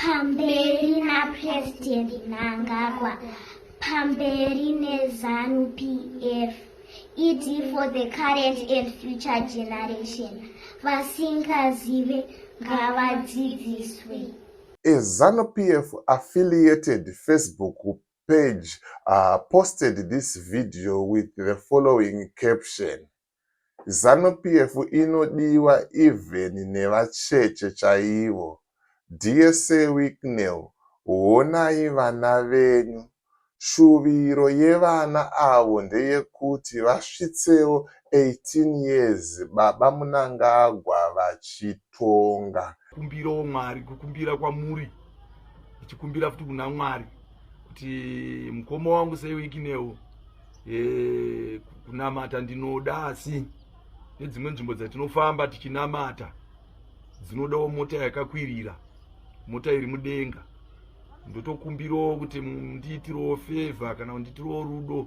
Pamberi naPresident Mnangagwa, pamberi neZanu PF. ED for the current and future generation. Vasingazive ngavadzidziswe. A ZANU PF affiliated Facebook page uh, posted this video with the following caption. Zanu PF inodiwa even nevacheche chaivo. Dear Sir Wicknell honai vana venyu. Shuviro yevana avo ndeyekuti vasvitsewo 18 years baba Munangagwa vachitonga. Kumbirawo Mwari, kukumbira kwamuri ndichikumbira futi kuna Mwari kuti mukoma wangu Sir Wicknell e, kunamata ndinoda asi nedzimwe nzvimbo dzatinofamba tichinamata dzinodawo mota yakakwirira mota iri mudenga ndotokumbirawo kuti ndiitirewo fevha kana kundiitirewo rudo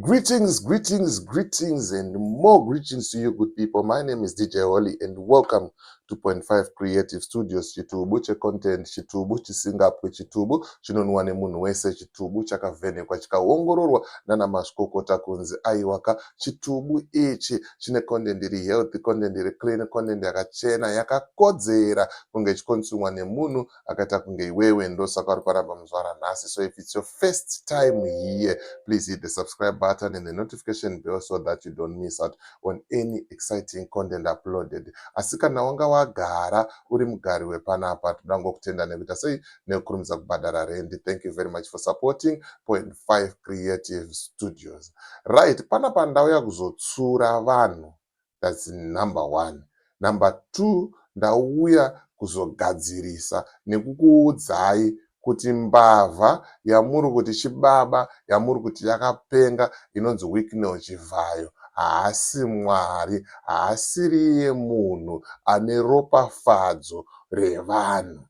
Greetings, greetings, greetings, and more greetings to you, good people. My name is DJ Holly, and welcome to Point Five Creative Studios. Chitubu checontent, chitubu chisingapwe, chitubu chinonwa nemunhu wese, chitubu chakavhenekwa chikaongororwa nana mazvikokota kunzi aiwaka. Chitubu ichi chine content iri healthy, content iri clean, content yakachena, yakakodzera kunge chikonsumiwa nemunhu akaita kunge iwewe ndosaka uri kwaramba muzvara nhasi so if it's your first time here please hit the subscribe button and the notification bell so that you don't miss out on any exciting content uploaded asi kana wanga wagara uri mugari wepanapa toda ngokutenda nekuita sei nekukurumidza kubhadhara rendi thank you very much for supporting point five creative studios right panapa ndauya kuzotsura vanhu that's number one number two ndauya kuzogadzirisa nekukuudzai kuti mbavha yamuri kuti chibaba yamuri kuti yakapenga inonzi Wicknell Chivhayo haasi Mwari haasiriye munhu ane ropafadzo revanhu.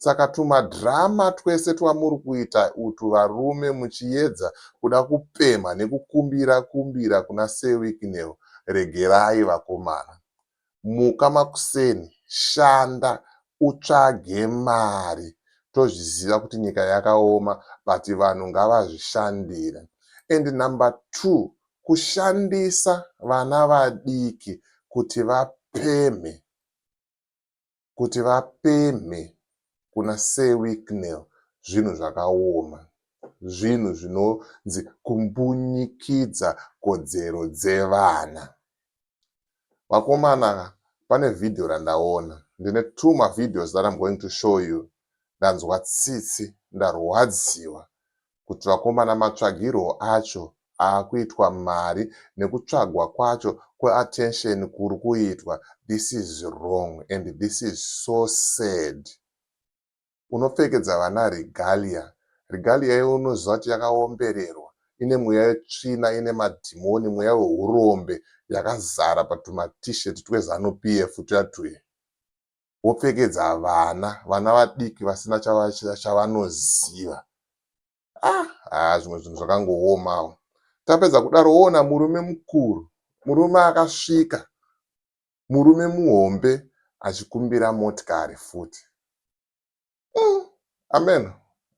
Saka tuma drama twese twamuri kuita utwu varume muchiyedza kuda kupemha nekukumbira kumbira kuna Sir Wicknell regerai vakomana. Muka makuseni shanda utsvage mari tozviziva kuti nyika yakaoma but vanhu ngavazvishandire and number two kushandisa vana vadiki kuti vapemhe. kuti vapemhe kuna Sir Wicknell zvinhu zvakaoma, zvinhu zvinonzi kumbunyikidza kodzero dzevana. Vakomana pane video randaona, ndine two mavideos that I'm going to show you, ndanzwa tsitsi, ndarwadziwa kuti vakomana matsvagirwo acho akuitwa mari nekutsvagwa kwacho kwe attention kuri kuitwa this is wrong and this is so sad unopfekedza vana regalia regalia iwe unoziva kuti yakaombererwa ine mweya yetsvina ine madhimoni mweya wehurombe yakazara patuma t-shirt twezanup tuya tuye wopfekedza vana vana vadiki vasina chavanoziva ah, ah zvimwe zvinhu zvakangoomawo tapedza kudaro woona murume mukuru murume akasvika murume muhombe achikumbira motikari futi mm. ameno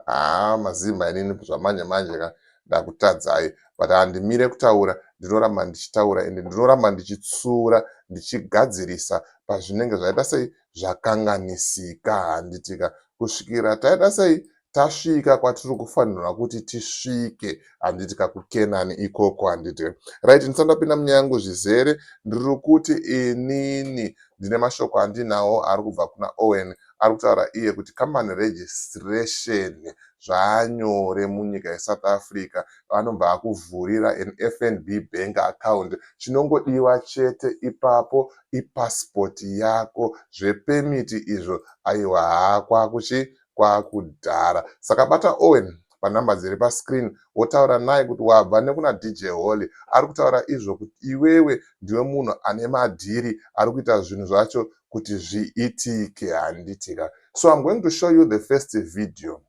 haa mazimba inini zvamanje manje ka ndakutadzai but handimire kutaura ndinoramba ndichitaura ende ndinoramba ndichitsura ndichigadzirisa pazvinenge zvaita sei zvakanganisika handitika kusvikira taita sei tasvika kwatiri kufanirwa kuti tisvike handiti kakukenani ikoko handiti right ndisati ndapinda munyaya yangu zvizere ndiri kuti inini ndine mashoko andinawo ari kubva kuna owen ari kutaura iye kuti company registration zvaanyore munyika yesouth africa vanobva vakuvhurira an fnb bank account chinongodiwa chete ipapo ipassport yako zvepemiti izvo aiwa haa kwakuchi kwakudhara saka bata owen panhamba dziri pascreen wotaura naye kuti wabva nekuna dj holy ari kutaura izvo kuti iwewe ndiwe munhu ane madhiri ari kuita zvinhu zvacho kuti zviitike handiti ka so i'm going to show you the first video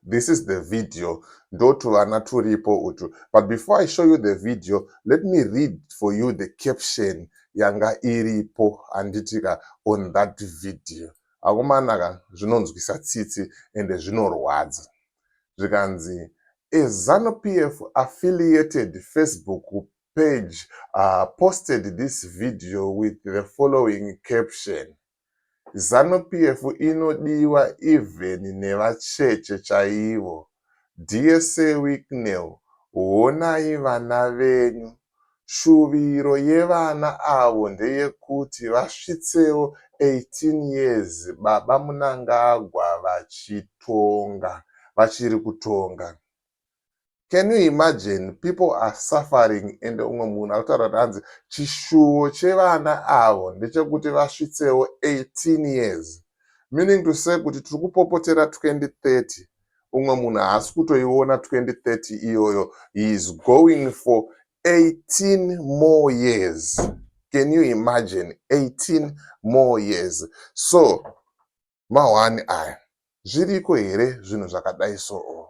this is the video ndotuvana turipo utu but before i show you the video let me read for you the caption yanga iripo handiti ka on that video akomana ka zvinonzwisa tsitsi ende zvinorwadza zvikanzi a zanupf affiliated facebook page uh, posted this video with the following caption zanu pf inodiwa even nevacheche chaivo dsa wicknel honai vana venyu shuviro yevana avo ndeyekuti vasvitsewo 18 years baba munangagwa vachitonga vachiri kutonga can you imagine people are suffering and umwe munhu akutaura kuti hanzi chishuwo chevana avo ndechekuti vasvitsewo 18 years meaning to say kuti tiri kupopotera 2030 umwe munhu haasi kutoiona 2030 iyoyo he is going for 18 more years can you imagine 18 more years so mahwani aya zviriko here zvinhu zvakadai soo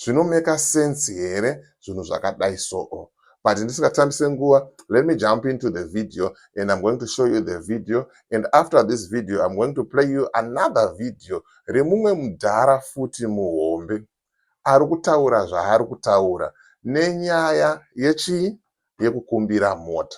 zvinomeka sense here zvinhu zvakadai soo but ndisingatambise nguva let me jump into the video and i'm going to show you the video and after this video i'm going to play you another video remumwe mudhara futi muhombe ari kutaura zvaari kutaura nenyaya yechii yekukumbira mota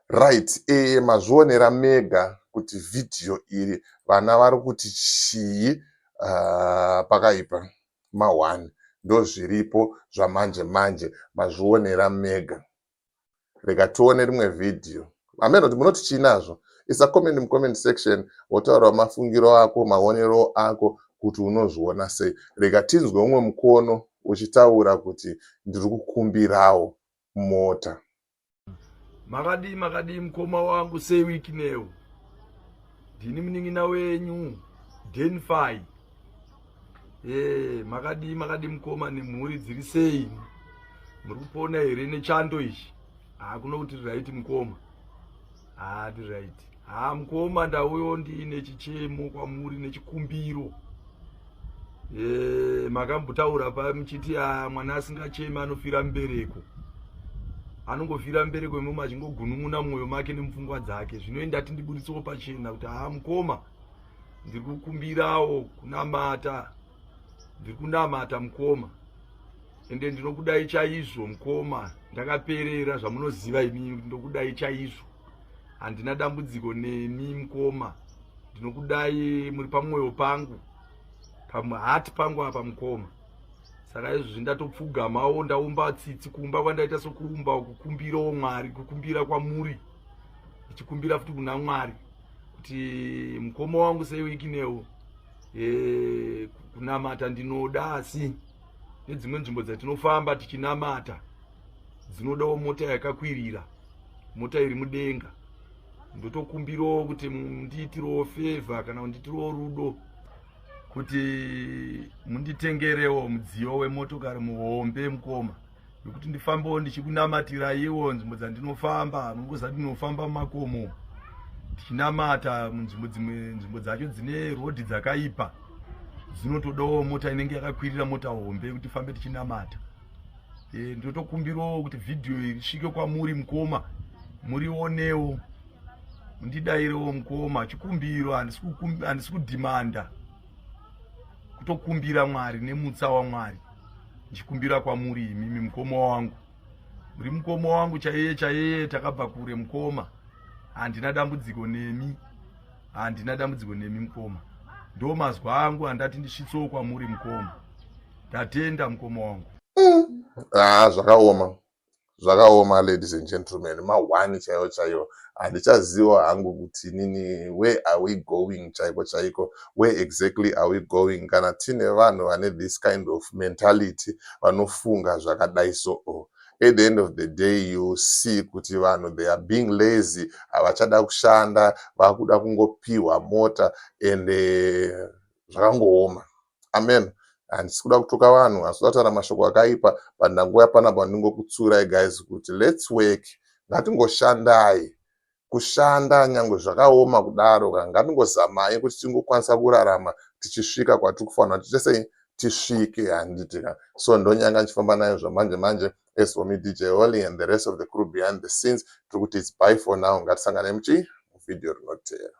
Right ee mazvionera mega kuti video iri vana vari kuti chii uh, pakaipa ma one ndozviripo zvamanje manje mazvionera mega rega tione rimwe video ameno kuti munoti chii nazvo isa comment mucomment section wotaurawo mafungiro ako maonero ako kuti unozviona sei rega tinzwe umwe mukono uchitaura kuti ndiri kukumbirawo mota Makadii makadii mkoma wangu sei week new. Ndini mningina wenyu Denfai. Eh, makadii makadii mkoma nemhuri dziri sei? Muri kupona here nechando ichi? Ah, kuno kuti right mkoma. haa ndi right haa mukoma ndauyo ndiine chichemo kwamuri nechikumbiro eh, makambotaura pa muchiti a mwana asingacheme anofira mbereko anongofira mbereko imoma achingogunun'una mumwoyo make nemupfungwa dzake zvino indati ndibuditsewo pachena kuti haa mukoma ndiri kukumbirawo kunamata ndiri kunamata mukoma ende ndinokudai chaizvo mukoma ndakaperera zvamunoziva imi ndokudai chaizvo handina dambudziko nemi mukoma ndinokudai muri pamwoyo pangu pamhati pangu apa mukoma saka izvozvi ndatopfugamawo ndaumba tsitsi kumba kwandaita sokuumba kukumbirawo mwari kukumbira kwamuri ndichikumbira futi kuna mwari kuti mukoma wangu seiwikinewo e, kunamata ndinoda asi nedzimwe nzvimbo dzatinofamba tichinamata dzinodawo mota yakakwirira mota iri mudenga ndotokumbirawo kuti mundiitirewo fevha kana kunditirewo rudo kuti munditengerewo mudziyo wemotokari muhombe mukoma nekuti ndifambewo ndichikunamatirayiwo nzvimbo dzandinofamba mungoziva ndinofamba mumakomo tichinamata munzvimbo dzimwe nzvimbo dzacho dzine rodhi dzakaipa dzinotodawo mota inenge yakakwirira mota hombe yekuti tifambe tichinamata e, ndotokumbirawo kuti vhidhiyo iri svike kwamuri mukoma murionewo mundidairewo mukoma chikumbiro handisi kudhimanda kutokumbira mwari nemutsa wamwari ndichikumbira kwamuri imimi mukoma wangu muri mukoma wangu chaiye chaiye takabva kure mukoma handina dambudziko nemi handina dambudziko nemi mukoma ndo mazwa angu handati ndisvitsewo kwamuri mukoma ndatenda mukoma wangu mm. ah, zvakaoma Zvakaoma ladies and gentlemen ma one chaiwo chaiwo handichaziwa hangu kuti inini where are we going chaiko chaiko where exactly are we going kana tine vanhu vane this kind of mentality vanofunga zvakadai so o at the end of the day you see kuti vanhu they are being lazy havachada kushanda vakuda kungopihwa mota and eh, zvakangooma Amen. Handisi kuda kutuka vanhu asi vataura mashoko akaipa but ndangouya panapa ndingokutsurai guys kuti let's work ngatingoshandai kushanda nyangwe zvakaoma kudaro ka ngatingozamai kuti tingokwanisa kurarama tichisvika kwatiri kufanira kuti tesei tisvike handiti ka so ndonyanga ndichifamba nayo zvamanje manje as for me dj holy and the rest of the crew behind the scenes tiri kuti its by for now ngatisanganei muchii muvhidhiyo rinoteera